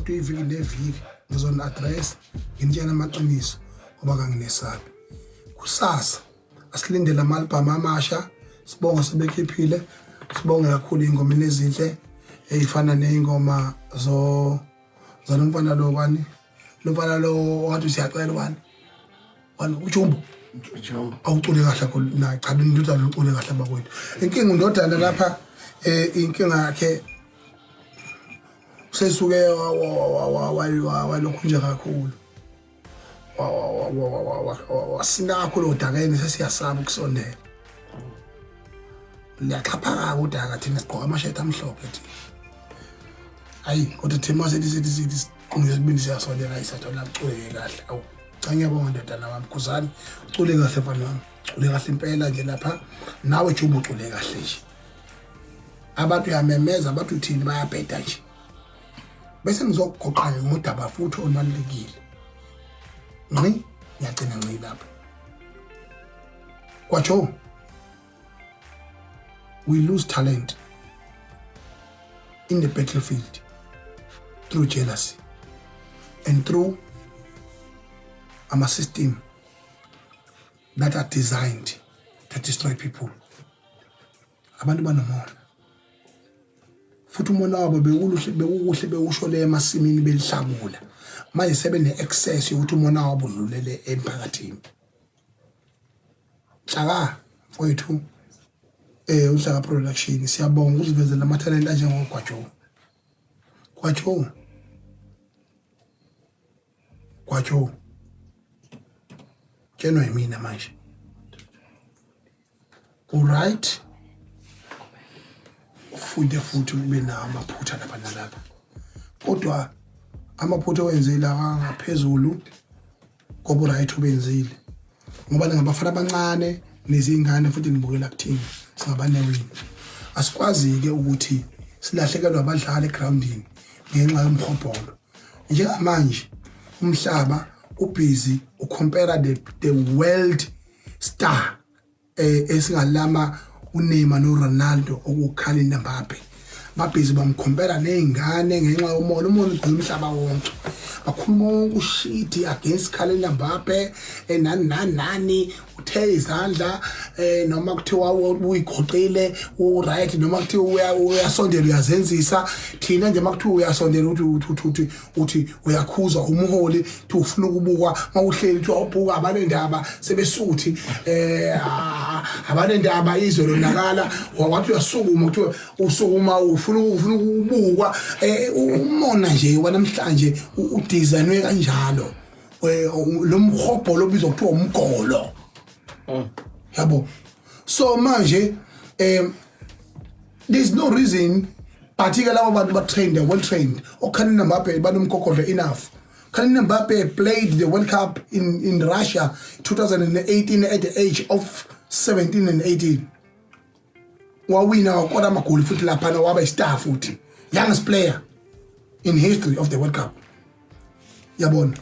kodwa iviki neviki ngizona address nginitshela amaqiniso ngoba kanginesabi kusasa asilindele ama-albhamu amasha sibonga sebekhiphile sibonge kakhulu iy'ngomeni ezinhle ey'fana ney'ngoma zalo mfana lo kwani lomfana lowo wathi usiyacela wani wani ujumbo awucule kahle kakhulu na cha indodana ucule kahle bakwethu inkinga undodana lapha eh inkinga yakhe sesuke walokhu nje kakhulu wasinakho lo dakeni sesiyasaba ukusondela liyaxhaphaka udaka thina sigqoka amashethi amhlophe thina hayi kodwa thina masethi sithi sithi Qhumo yesibili siyasondela isatho la kuculeke kahle. Awu cha ngiyabonga ndodana wami Khuzani ucule kahle mfana wami. Ucule kahle impela nje lapha. Nawe Juba ucule kahle nje. Abantu yamemeza abantu uthini bayabheda nje. Bese ngizokugoqa ngodaba futhi olubalulekile. Nqi ngiyagcina nqi lapha. Kwacho we lose talent in the battlefield through jealousy and through our system that are designed to destroy people abantu banomona futhi umona wabo bewuluhle bewukuhle bewusho le emasimini belihlakula manje sebe ne-access yokuthi umona wabo udlulele emphakathini Shaka wethu eh uhlaka production siyabonga ukuzivezela ama talent anjengogwajo gwajo gwajo tsheno yimina manje uright ufunde futhi ube nawo amaphutha lapha nalapha kodwa amaphutha owenzile awangaphezulu koba uright obenzile ngoba ningabafana abancane nezingane futhi nibukela kuthini singabanewini asikwazi-ke ukuthi silahlekelwe abadlali egroundini ngenxa yomhobholo njengamanje umhlaba ubhizi ukhompera the, the world star eh, esingalama uNeymar noRonaldo okukhala iNambape babhizi bamkhompela nezingane ngenxa yomona umona ugcina umhlaba wonke bakhuluma wonke ushidi against Khalenda Mbappe enani eh, nani nani uthe izandla eh noma kuthiwa uyigoqile u right noma kuthiwa uyasondela uyazenzisa thina nje makuthiwa uyasondela uthi uthi uthi uthi uyakhuza umholi thi ufuna ukubukwa mawuhleli kuthiwa ubuka abanendaba sebesuthi eh ah, abanendaba izwe lonakala wathi uyasukuma kuthiwa usukuma ufuna ufuna ukubukwa eh, umona nje wanamhlanje udesignwe kanjalo eh, lo mhobho lobizwa kuthiwa umgolo mm. yabo so manje um there's no reason but-ke labo bantu ba-trained they're well trained okhanina mbape banomgogodlo enough Kylian Mbappe played the World Cup in, in Russia 2018 at the age of 17 and 18 wawina wakora amagoli futhi laphana waba istar futhi youngest player in history of the World Cup yabona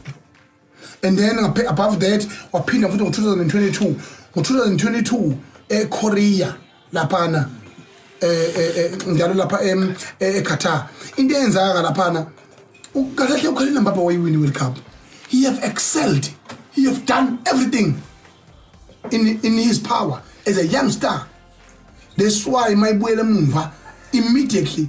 and then ngape- above that waphinda futhi ngo-2022 ngo-2022 ekorea laphana eh, eh, eh, njalo lapha em- eh, eqatar into eyenzakaka laphana ukakahle ukhale nambaba wayiwini world cup he have excelled he have done everything in, in his power as a young star that's why mayibuyela emumva immediately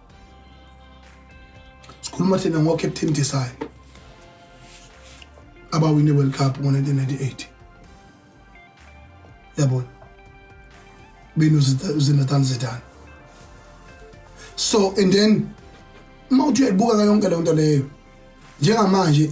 sikhuluma thina ngocaptain design abawine world cup ngo-1998 yabona benuzinathan zidane so and then uma uthi uyayibuka ka yonke leyo nto leyo njengamanje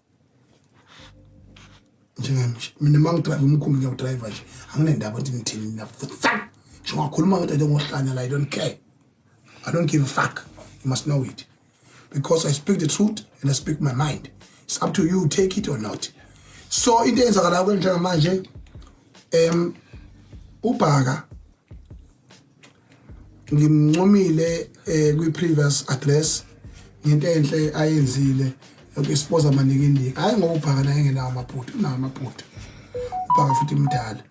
njengami nje mina uma ngidrive umkhumbi ngiyawudriva nje anginendaba ukuthi ngithini mina futsal nje ungakhuluma ngethi into ngohlanya la i don't care i don't give a fuck you must know it because i speak the truth and i speak my mind it's up to you take it or not so into eyenzakalayo kwenjengamanje um ubhaka ngimncomile eh, kwi previous address ngento enhle ayenzile yokusipoza maningi indiki hayi ngoba ubhaka naye engenawo amaphutha unawo amaphutha ubhaka futhi mdala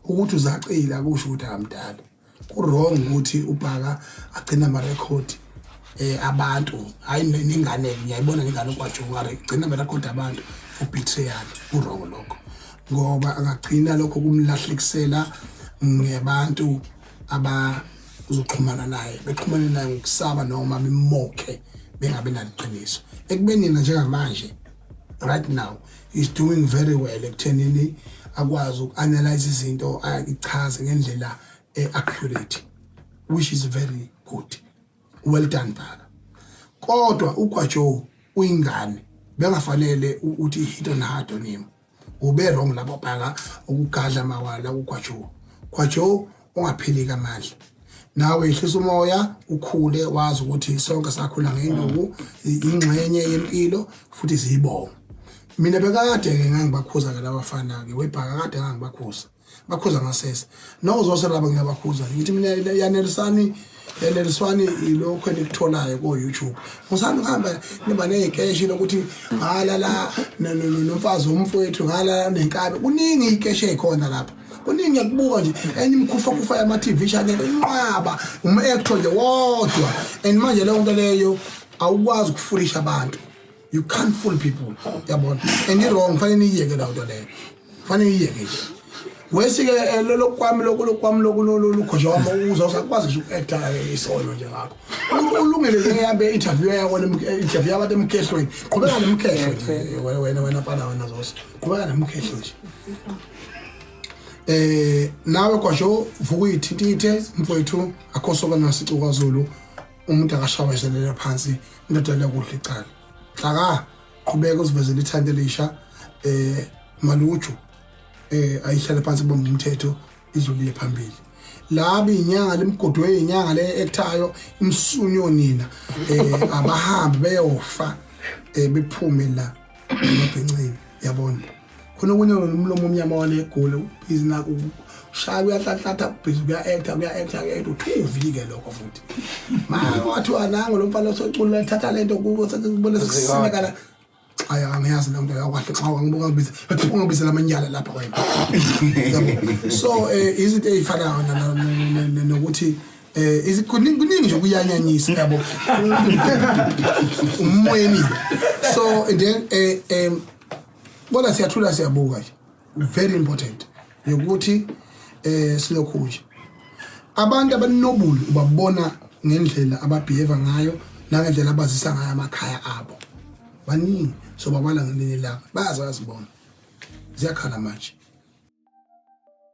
ukuthi uzacile akusho ukuthi amdala kurong ukuthi ubhaka agcina amarekhodi eh abantu hayi nengane ngiyayibona ngengane kwaJongare igcina amarekhodi abantu for betrayal kurong lokho ngoba angagcina lokho kumlahlekisela ngebantu abazoxhumana naye bexhumane naye ngokusaba noma bemokhe bengabe naliqiniso ekubeni yena njengamanje right now is doing very well ekuthenini akwazi uku-analyze izinto ayichaze ngendlela e-accurate which is very good well done baba kodwa ugwajo uyingane bengafanele ukuthi hit on hard on him ube wrong lapho bhaka ukugadla mawala ukwajo kwajo ungaphilika amandla nawe ihlisa umoya ukhule wazi ukuthi sonke sakhula ngenduku ingxenye yempilo futhi siyibonga mina bekade ke ngangibakhuza ke labafana ke webhaka kade ngangibakhuza bakhuza ngasese noko zonke laba ngiyabakhuza ngithi mina yanelisani yaneliswani ilokho enikutholayo ko YouTube musani kuhamba niba nezikeshi lokuthi ngala la nomfazi womfowethu ngala nenkabe kuningi ikeshi ekhona lapha kuningi ngiyakubuka nje enye imkhufa kufa yama TV channel inqaba um actor nje wodwa and manje leyo nto leyo awukwazi ukufulisha abantu you can't fool people yabona and i-wrong fanele niyiyeke lawo nto leyo fanele niyiyeke nje wesi-ke eh, lolo kwami loku lokwami loku lukhoja wami ukuza usakwazi nje uku-ekta eh, isono nje ngakho ulungele ke ngihambe i-interview yakho interview yabantu emkhehlweni qhubeka nemkhehlo nje eh, wena wena pana wena zose qhubeka nemkhehlo nje eh nawe kwasho vuka uyithintithe mfowethu akho soka nasicu kwaZulu umuntu akashawezelela phansi indoda liyakudla icala xaka qhubeka uzivezela ithanda elisha eh maluju eh ayihlale phansi bomba umthetho izolile phambili laba inyanga limgodwe inyanga le ekuthayo imsunyo nina eh abahambi beyofa eh bephume la amabhincini yabona khona okunye nomlomo omnyama wanegoli ubhizi nako ushaya uyahlanhlatha ubhizi kuya-acta kuya-acta kuya-acta uthuvike lokho futhi ma wathiwa nango lo mfana osocula ethatha le nto kubo sekubona sekusimekala ayi angiyazi le nto yakwahle xa wangibuka ngibiza athi ungabizela amanyala lapha wena so um izinto ey'fanayo nokuthi eh izikuningi kuningi nje kuyanyanyisa yabo umweni so then eh em bona siyathula siyabuka nje very important yokuthi eh silokhu nje abantu abanobulu ubabona ngendlela ababehave ngayo nangendlela abazisa ngayo amakhaya abo baningi so babala ngelinye ilanga bayazazi bona ziyakhala manje